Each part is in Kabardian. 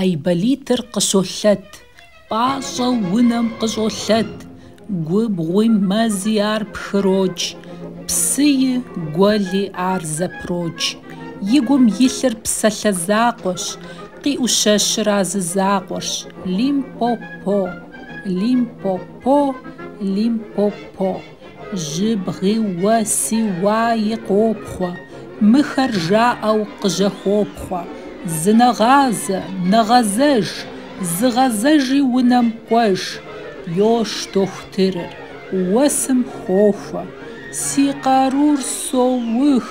Айболитыр къыщолъэт, пӏащӏэу унэм къыщӏолъэт, губгъуи мэзи ар пхырокӏ, псыи гуэли ар зэпрокӏ. И гум илъыр псалъэ закъуэщ, къиӏущэщыр а зы закъуэрщ, Лим-по-по, Лим-по-по, Лим-по-по. Жьыбгъи уэси уаи къопхъуэ, Мыхэр жаӏэу къыжьэхопхъуэ. Зынэгъазэ, нэгъэзэж, Зыгъэзэжи унэм кӏуэж. Йош дохутырыр, уэсым хохуэ, Си къарур соух,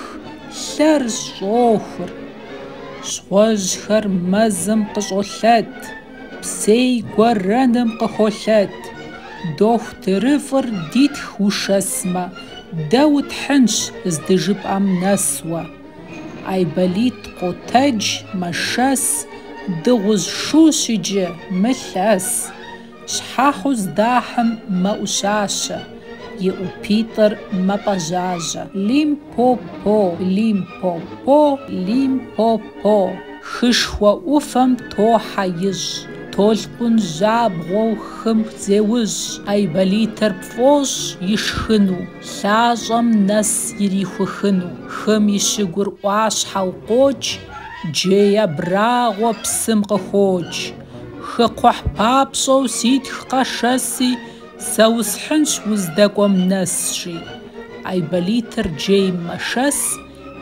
лъэр щӏохур. Щхъуэжьхэр мэзым къыщӏолъэт. Псей гуэрэным къыхолъэт. Дохутырыфӏыр дитх ушэсмэ, дэ утхьынщ здыжыпӏэм нэсуэ. Айболит къотэдж, мэшэс, Дыгъужь шущ иджы, мылъэс. Щхьэхьу здахьым мэӏущащэ, и ӏупитӏыр мэпӏэжьажьэ. Лим По-по, лим-по-по, лим-по-по. Хышхуэ ӏуфэм тохьэ ищӏ. Толъкъун жьабгъуэу хым зеущӏ. Айболитыр пфӏощӏ ишхыну, лъащӏэм нэс ирихухыну. Хым и щыгур ӏуащхьэу къокӏ, джей абрагъуэ псым къыхокӏ. Хыкхъухь папщӏэу ситх къэшэси, Сэ усхьынщ уздэкӏуэм нэс, жи. Айболитыр джейм мэшэс,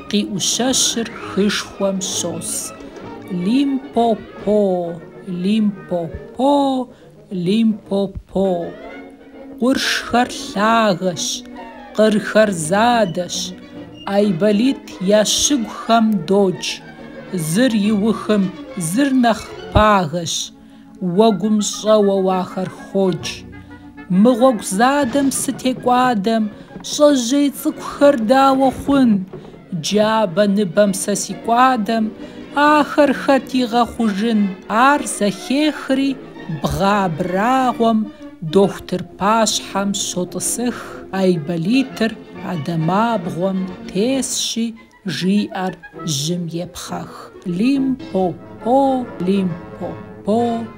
къиӏущэщыр хышхуэм щос. Лим-по-по, Лим-по-по, Лим-по-по. Къуршхэр лъагэщ, къырхэр задэщ. Айболит я щыгухэм докӏ. Зыр иухым, зыр нэхъ пагэщ. Уэгум щӏэуэу ахэр хокӏ. Мы гъуэгу задэм сытекӏуадэм Щӏэжьей цӏыкӏухэр дауэ хъун? Джабэ ныбэм сэ сикӏуадэм Ахэр хэт игъэхъужын? Ар зэхехри бгъэ абрагъуэм Дохутыр пащхьэм щотӏысых Айболитыр а дамабгъуэм тесщи, Жиӏэр жьым епхъэх. Лим-по-по, лим-по-по.